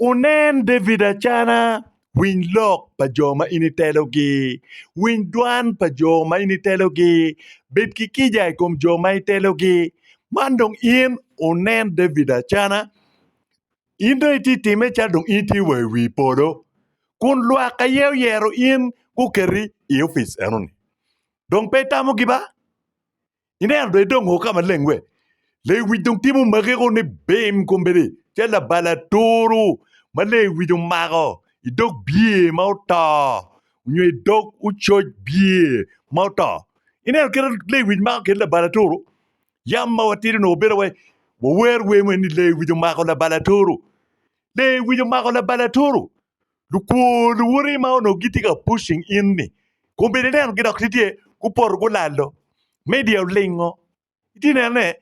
Wunen David acana, winy lok pa jo ma in itelogi, winy dwan pa jo ma in itelogi, bed ki kica i kom jo ma itelogi. Man dong in wunen David acana, in dong itye ka timme calo dong in itye wa i wi polo, kun lwak aye oyero in guketi i opic eno-ni, dong pe itamogi ba? Ineno dong idongo ka maleng we? Lewic dong timo magego ni bim kombeddi calo labal aturu ma lewic omako i dog bye ma oto nyo i dog ococ bye ma oto. Ineno kit ma lewic mako kit labal aturu? Yam ma watidi onongo bedo wai wawer wer moni ni lewic omako labal aturu. Lewic omako labal aturu. Lukwor luwoti ma onongo gitye ka pushing in ni kombeddi inenogi dok tye gupoto gulalo. Media olingo. Itye neno ne?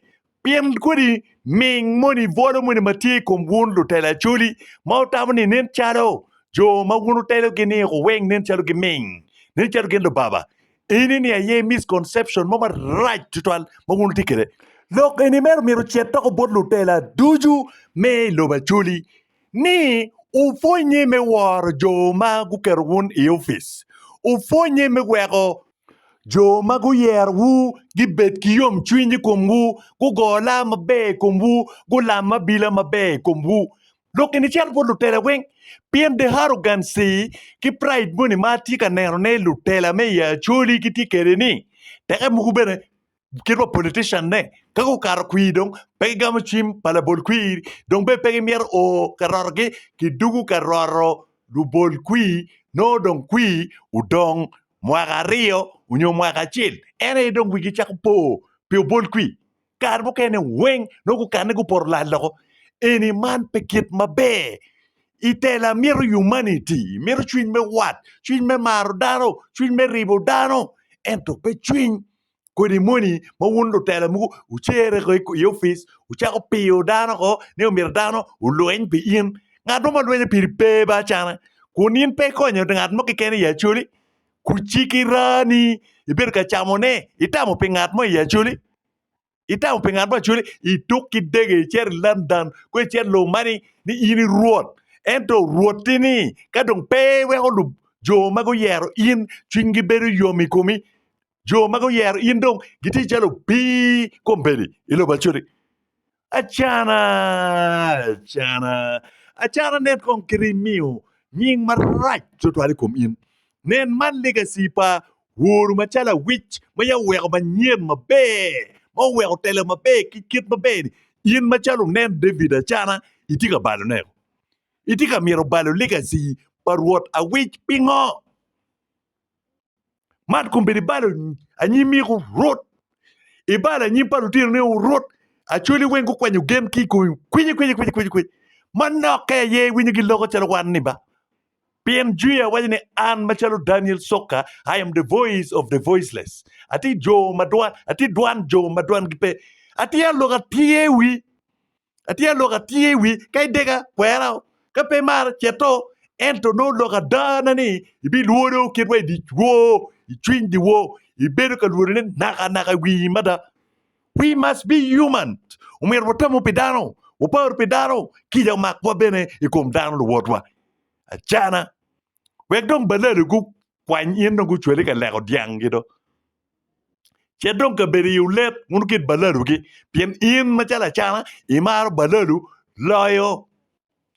Pien kodi ming moni bwolo moni ma tye i kom wun lutelo Acholi ma wutamo ni nen calo jo ma wun wutelogi ni wuweng nen calo giming, nen calo gin lubaba. Eni ni aye misconception mo marac tutwal ma wun wutye kwede. Lok eni mere omyero ocit doko bot lutela ducu me i lobo Acholi. ni wupwonnye me woro jo ma guketo wun i opic, wupwonnye me weko jo ma guyerowu gibed ki yomcwiny i komwu, gugo lam maber i komwu, gulam abila maber i komwu. Lok gin icen bot lutela weng, pien the arrogancy ki pride moni ma atye ka nenone lutela me i Acholi gitye kwede-ni, teke mogo bene kit wa politician-ne ka gukato kwir dong pe gigamo cim pa labol kwir dong bene pe gimyero o ka rotogi kidwogo ka roto lubol kwir nongo dong kwir odong mwaka aryo nyo mwaka acel en aye dong wigi cako po pi obol kwir kare mukene weng nongo gukane gupoto lal loko eni man pe kit maber itela myero humanity myero cwiny me wat cwiny me maro dano cwiny me ribo dano ento pe cwiny kodi moni ma wun lutela mogo wucere ko i opic wucako piyo dano ko ni omyero dano olweny pi in ngat mo ma lwenyo piri pe ba acana kun in pe ikonyo ngat mo keken i Acholi kuciki rani ibedo ka camo ne itamo pi ngat mo i Acholi itamo pi ngat mo i Acholi ituk ki dege icito i London ko icit lobo mani ni in i rwot ento rwoti ni ka dong pe iweko jo ma guyero in cwiny gi bedo yom i komi jo ma guyero in dong gitye calo opii kombeddi i lobo acodi. Acana, acana, acana nen kong kit imiyo nying marac twatwal i kom in. Nen man legacy pa woru macalo awic ma ya oweko manyen maber, ma oweko telo maber ki kit maber-ni. In macalo wunen David acana, itye ka balone. Itye ka myero balo legacy pa Rwot awic pingo? man kong bedo ibalo anyim mik orut ibalo anyim pa lutinone orut acwali weng gukwanyo gen ki i komi kwici kwici kwici kwici kwici manokke aye iwinyo giloko calo wan ni ba pien jwiya waco ni an macalo Daniel Sokka I am the voice of the voiceless atye jo ma dwan atye dwan jo ma dwangi pe atye alok atye wi Atye ka lok atir i wi ka idega kwera o ka pe imarra cet o ento nongo lok adana ni ibilworo kit wa i dic woo i cwiny di woo ibedo ka lworo ne naka naka i wii mada we must be human omyero watamu pi dano wapar pi dano kica omakwa bene i kom dano luwotwa acana. wek dong balali gukwany in dong gucwali ka leko dyangi do. Ce dong kabedo iwu let wun kit balalugi, pien in macalo acana imaro balalu loyo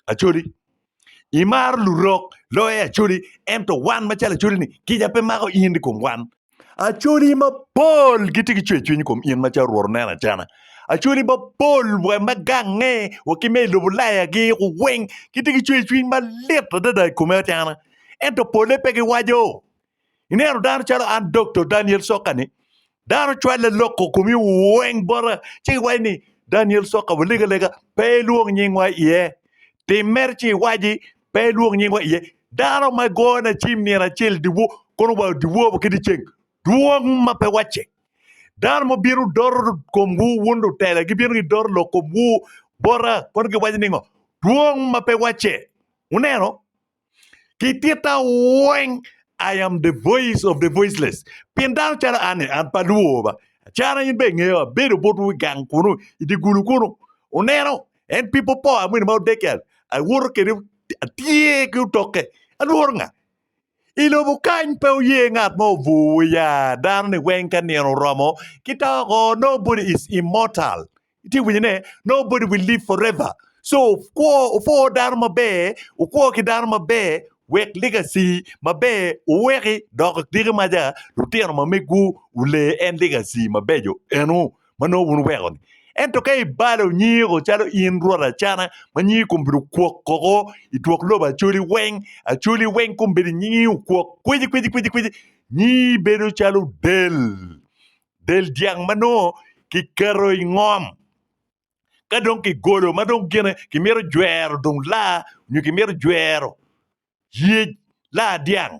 acoli. Imaro lurok loyo acoli, ento wan macalo acoli-ni kica pe mako in i kom wan. Acholi mapol gitye ki cwercwiny i kom in macalo Rwot oneno acana. Acholi mapol wa me gange wa ki me i lobo layagi weng gitye ki cwercwiny malit adada i kome acana. Ento polle pe giwaco. Ineno dano calo an Dokto Daniel Soka-ni, dano cwalle loko komi weng bota ci iwaco ni Daniel Soka walega lega pe ilwong nyingwa iye. Tim mere ci iwaci Pe ilwok nyingwa iye. Dano ma gone cim nino acel dyewo kono wa dyewo wa ki dyeceng dwong ma pe wacce. Dano ma bino doro komwu wun lutela gibino gidoro lok komwu bota kono giwaco ni ngo? Dwong ma pe wacce. Wuneno? Ki titta weng I am the voice of the voiceless. Pien dano calo an-ni, an pe alwor ba. Acana in be ingeya, abedo botwu i gang kunu, i dye gulu kunu. Wuneno? En pi popo amwino ma odege awoto kede atye ki otoke alworo nga? I lobo kany pe oye ngat mo obur wa ya dano ni weng ka nino oromo ki to oko nobody is immortal itye winyo ne nobody will live forever so kwo opwo dano maber okwo ki dano maber wek legacy maber oweki dok diki maja lutino ma megu olee en legacy mabeco enu ma nongo wun wuweko-ni. Ento ka ibalo nyiko calo in rwot acana, ma nyingi kong obedo kwok koko i twok lobo acoli weng, acoli weng kong bedo nyingi okwok kwici kwici kwici kwici, nyingi bedo calo del, del dyang ma nongo kiketo i ngom. Ka dong kigolo ma dong gine kimito jwero dong laa nyo kimito jwero yec laa dyang.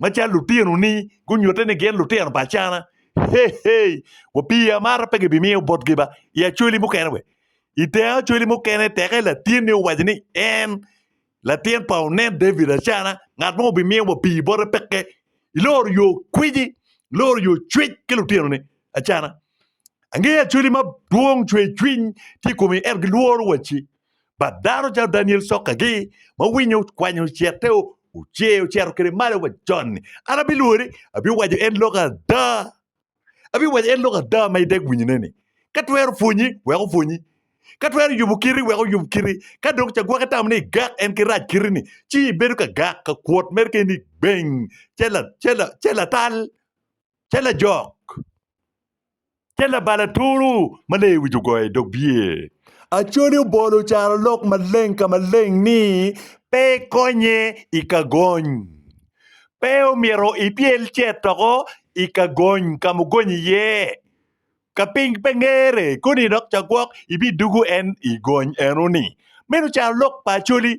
macalo lutino ni gunyute ni gin lutino pa acana hehe wa pi amara pe gibimiyo botgi ba i acwali mukene we i te acwali mukene teke latin ni owaco ni en latin pa onen David acana ngat mo bimiyo wa pi bote peke iloro yo kwiji iloro yo cwec ki lutino ni acana angeyo acwali madwong cwe cwiny tye i komi ento gilworo waci pa dano calo Daniel sokkagi ma winyo okwanyo cete ocer ocero kede malo wa joni an abilwori abiwaco en lok ada abiwaco en lok ada ma ideg winyone ni ka twero pwonyi wek opwonyi ka twero yubo kiti wek oyub kiti ka dong cagwaki tamo ni igak en ki rac kiti ni ci ibedo ka gak ka kwot mere keni beng ce la ce la ce latal ce lajok Te labal aturu ma lee wic ogoyo i dog bye. Acholi obolo ocaro lok maleng ka maleng ni pe ikonye i ka gony. Pe omyero ipyel cet doko i ka gony ka mugonyo iye. Ka piny pe ngere koni dok ca gwok ibidugu en i gony eno ni. Meno ocaro lok pa Acholi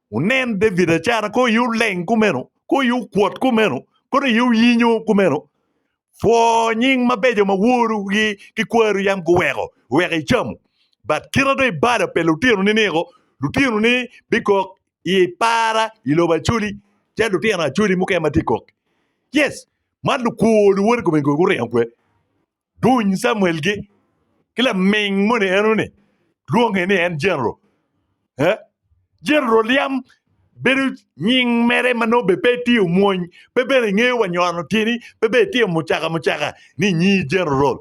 Wunen David acara kong aye wuleng kumeno, kong aye wukwot kumeno, kong aye wuyinyo kumeno. Pwoo nying mabeco ma woru gi ki kwaru yam guweko wek icamu. But kita dong ibala pe lutino ni niko, lutino ni bikok i para i lobo Acholi calo lutino Acholi mukene ma tye kok. Yes, man lukwor luwot i kome gin guringo kwe. Duny Camuel-gi ki laming moni eno-ni, lwonge ni en Jeneral. Jeneral yam bedo nying mere ma nongo bene pe etye omwony, pe bene engeyo wa nywano tyeni, pe bene etye mucaka mucaka ni nyi Jeneral.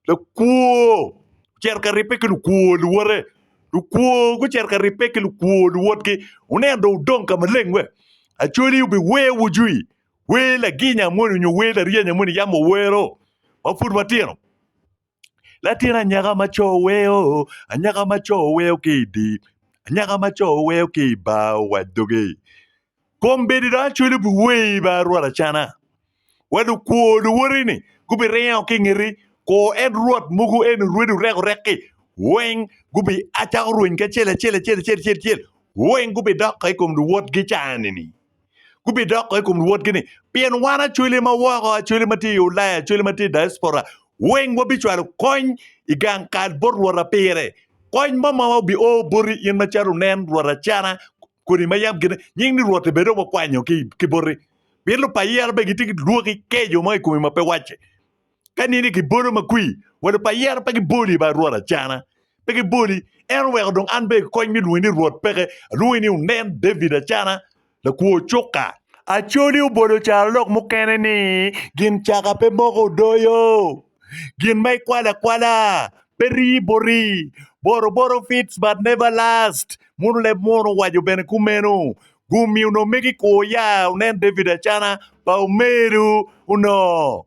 Lakwo ocito ka ribbe ki lukwo luwote, lukwo gucito ka ribbe ki lukwo luwotgi, wuneno dong wudong ka maleng we? Acholi obiweyo wujwi, Wer laginya moni onyo wer laryanya moni yam owero ma pud watino. Latin anyaka ma co oweo, anyaka ma co oweo ki i di, anyaka ma co oweo ki i bar owac doge. Kombeddi dong acwelo pi wer i bar Rwot acana, wa lukwo luwoteni gubiringo ki i ngeti, kor en Rwot mogo en orwedi orek orek-ki, weng gubiacako rweny ki acel acel acel acel acel acel, weng gubidoko i kom luwotgi caa-ni-ni. gubidoko i kom luwotgi ni, Pien wan acwele ma woko, acwele ma tye i Ulaya, acwele ma tye i diaspora, weng wabicwalo kony i gang kal bot Rwota pire. Kony mo ma obio boti in macalo nen Rwot Acana kodi ma yam gine nying ni Rwot bene dong wakwanyo ki boti. Pien lupayi yero bene gitye ki lwoki keco mo i komi ma pe wacce. Ka nini gibolo ma kwir? Welo pa yero pe giboli ba Rwot Acana, pe giboli. En oweko dong an bene kony me lwongi ni Rwot peke, alwongi ni Onen David Acana, lakwo cuka. Acholi obolo carolok mukene ni, Gin caka pe moko odoyo, gin ma ikwalo akwala pe rii boti, boroboro fits but never last. Muno leb muono owaco bene kumeno. Gum i onongo megi kwo ya, Onen David Acana, pa omelu onongo.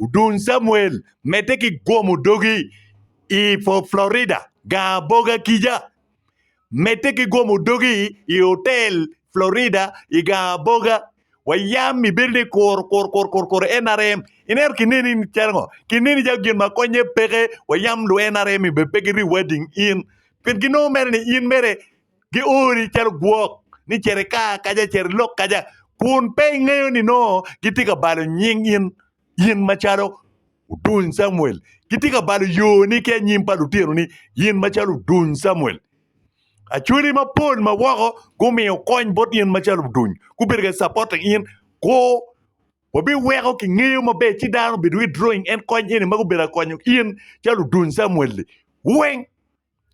Odun Samuel medde ki gwomo dogi i Florida gar aboga kica. Medde ki gwomo dogi i otel Florida i gar aboga. Wa yam ibedo ni kur, kur, kur, kur, kur NRM. Ineno kineni ni calo ngo? Kineni calo gin ma konye peke wa yam lu NRM be pe giriwa ding in. Pien ginongo mere ni in mere giori calo gwok ni cere ka kaca cere lok kaca kun pe ingeyo ni nongo gitye ka balo nying in in macalo Oduny Camuel gitye ka balo yoni ki anyim pa lutinoni in macalo Oduny Camuel Acholi mapol ma woko gumiyo kony bot in macalo Oduny gubedo ka capote in ko wabiweko kingeyo maber ci dano obedo withdrawing en kony eni ma gubedo ka konyo in calo Oduny Camuel-li weng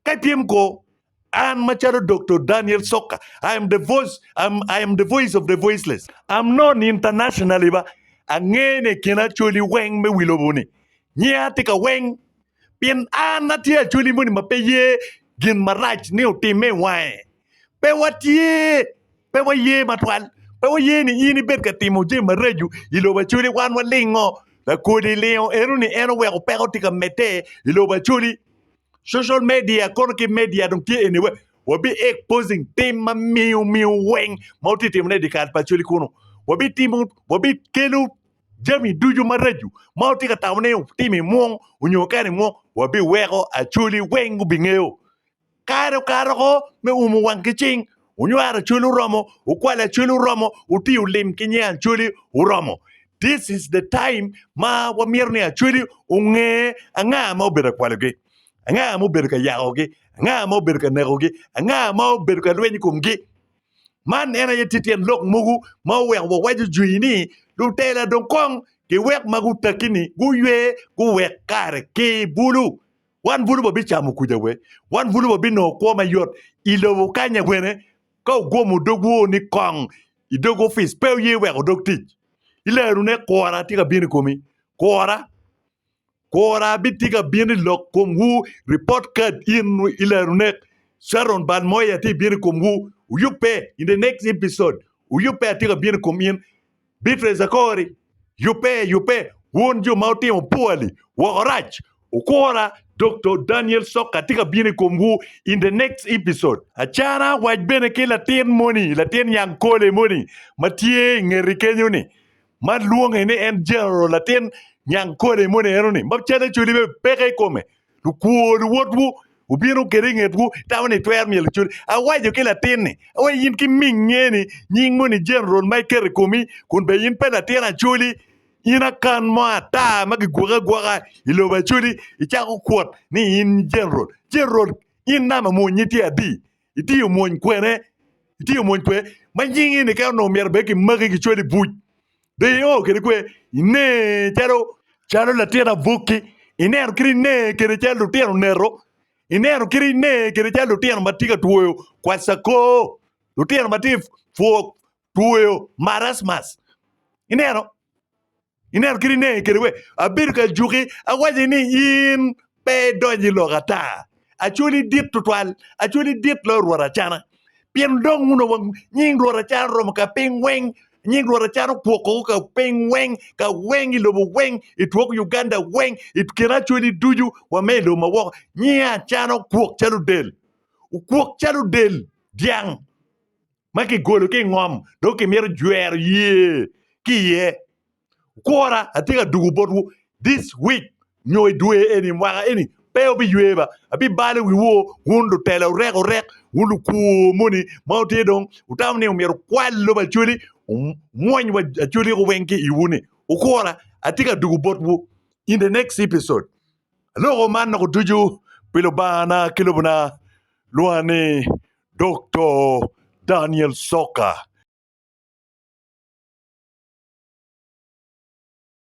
Ka ityem ko, An macalo Doktor Daniel Soka, I am the voice, I'm, I am the voice of the voiceless. I'm known internationally ba angene i kin Acholi weng me wi lobo ni, nyinga tye ka weng, pien an atye Acholi moni ma pe ye gin marac ni otimme i wange. Pe watye, pe waye matwal, pe waye ni in ibed ka timo jami maraco i lobo Acholi, wan walingo. Lakodi lingo eno ni en oweko peko tye ka medde i lobo Acholi. Social media kono ki media dong tye anywhere. Wabi exposing tim ma miyo miyo weng ma wutye ka timone i dyekal pa cwali kunu. Wabi timo wabi kelo jami ducu maraco ma wutye ka tamo ni wutimo i mwong onyo wukato i mwong wabiweko acwali weng gubingeyo. Kare okato oko me umo wang ki cing Wunywaro Acholi oromo, wukwalo Acholi oromo, wutiyo lim ki nying Acholi oromo. This is the time ma wamito ni Acholi onge anga ma obedo ka kwalogi, anga ma obedo ka yakogi, anga ma obedo ka nekogi, anga ma obedo ka lweny i komgi. Man en aye tye tyen lok mogo ma oweko wawaco jwi ni lutela dong kong giwek ma gutakki-ni guywe guwek kare ki bulu. Wan bulu wabicamo kuca we? Wan bulu wabinongo kwo mayot i lobo kanya wene? Ka wugomo dogwu ni kong i dog opic, pe wuye wek wudog tic. I lerone, kura tye ka bino i komi. Kura, kura bitye ka bino i lok komwu. Report card in i lerone, Sharon Balmoea tye bino i komwu. Wuyubbe in the next episode. Wuyubbe atye ka bino i kom in. Beatrice Akori, Yubbe, yubbe, wun jo ma wutimo pwali woko rac, wukura dok to Daniel Soka tye ka bino i komwu in the next episode. Acana wac bene ki latin moni, latin nyang kole moni ma tye i ngeti kenyo ni, ma lwonge ni en General latin nyang kole moni eno ni, ma calle coli bene peke i kome. Lukwo luwotwu obino kede i ngetwu, itamo ni itwero myelo cwiny. Awaco ki latin-ni, awaco in ki ming ngeni nying moni General ma iketo i komi, kun bene in pe latin Acholi, in akan mo ata ma kigwoki agwoka i lobo Acholi, icako kwot ni in General. General, in nama mony-nyi tye adi? itiyo mwony kwene, itiyo mwony kwe ma nyingi ni kene onongo myero bene kimaki kicwali i buc. Be io kede kwe ine calo calo latin aboki, ineno kit ine kede calo lutino oneto, ineno kit ine kede calo lutino ma tye ka twoyo kwacakor, lutino ma tye ka two twoyo marasmus, ineno. Ineno kit inenge kede we? Abedo ka juki awaci ni in pe idonyo i lok ata. Acwali dit tutwal, acwali dit loyo rwot acana. Pien dong uno wang nying rwot acana oromo ka piny weng, nying rwot acana okwokowu ka piny weng, ka weng i lobo weng, i twok Uganda weng, i kin acwali ducu wa me i lobo ma woko. Nyinge acana okwok calo del, okwok calo del dyang. ma kigolo ki i ngom dong kimito jwero ye ki iye. Kwora, atye ka dugo botwu this week nyo i dwe eni, mwaka eni, pe wubiywe ba. Abibalo wiwu wun lutela orek orek, wun lukur moni ma wutye dong wutamo ni myero wukwal lobo Acholi, wumwony wa Acholi weng ki iwu-ni. Wukwora, atye ka dugo botwu in the next episode. Aloko man loko ducu pi Lubangana ki Lobona, lwonga ni Dokto Daniel Soka.